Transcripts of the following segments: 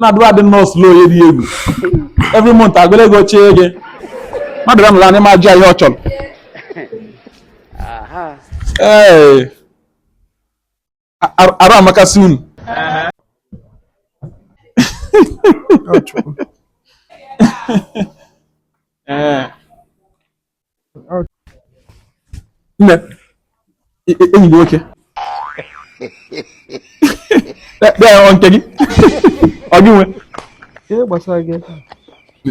na-adụ adị nnọọ slow ya dị egwu every month agụọla ego chee gị mmadụ bịa n'ụlọ anyị ma jụọ ihe ọ chọrọ ee arụ amakasị unu ee nne enyi gị nwoke ọ nke gị ọ gị nwe ihe gbasara gị ebe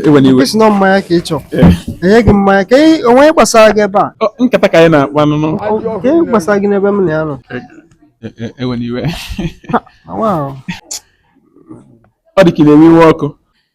ewena iwe ị sị na mmanya ka ị chọrọ e nye gị mmanya ka ị- o nwe ihe gbasara gị ebe a Ọ, nkata ka anyị na-akpa nụnụ Ọ- ka ihe gbasara gị n'ebe m na ya nọ E- e- ewena iwe Wow. ọ dị ka ị na-ewe iwe ọkụ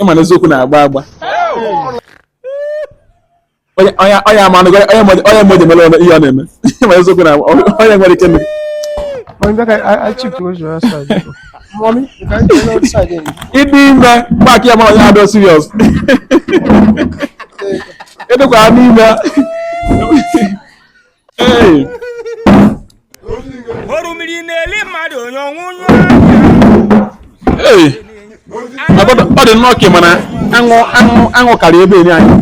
ịma na eziokwu na-agba agba onye ama onye mmadụ mere ọnụ ihe ọ na-eme ịma eziokwu na onye nwere ike mere ịdị ime mgbakị ya mara onye adọ serious ịdịkwa n'ime orimiri na-eli mmadụ onye ọnwụ ọ dị nnọọ ka m na-aṅụ aṅụ aṅụ karịa ebe enyi anyị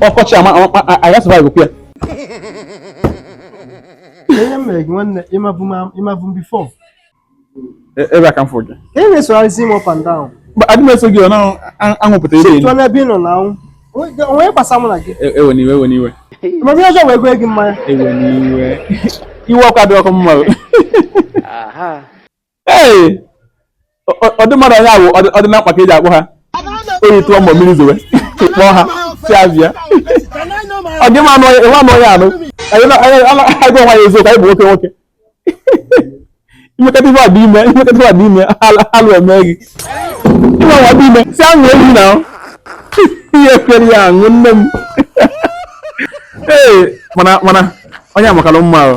ọkọchị ama aga survive kwa ya ihe mere gị nwanne ị mabu m before E- ebe a ka m fụ gị ka ị na-esogharịzi m up and down Mba, adị m eso gị ọ na-aṅụpụta ebe chifụọ n'ebe ị nọ na-aṅụ onwe gbasa mụ na gị ewena iwe ewena iwe ma onye ọjọọ wee gụọ gị mmanya ewena iwe iwe ọkụ adịrọkwa mma o. ee ọ- ọ- ụdị mmadụ onye ahụ ọdị ọdị na mkpa ka e ji akpọ ha oyi tụọ ma ọ bụ mmiri zowe kpọọ ha sị ha bịa ọ dị mma anụ onye anụ onye anụ anyị na- anyị na- anyị gwa onwe anyị eziokwu anyị bụ nwoke nwoke i mekata ife adị eme i mekata ife adị eme alụ emee gị ịma nwa dị ime si aṅụ ehi na ihe kwere ya aṅụ nne m ee mana mana onye a makalụ mma ahụ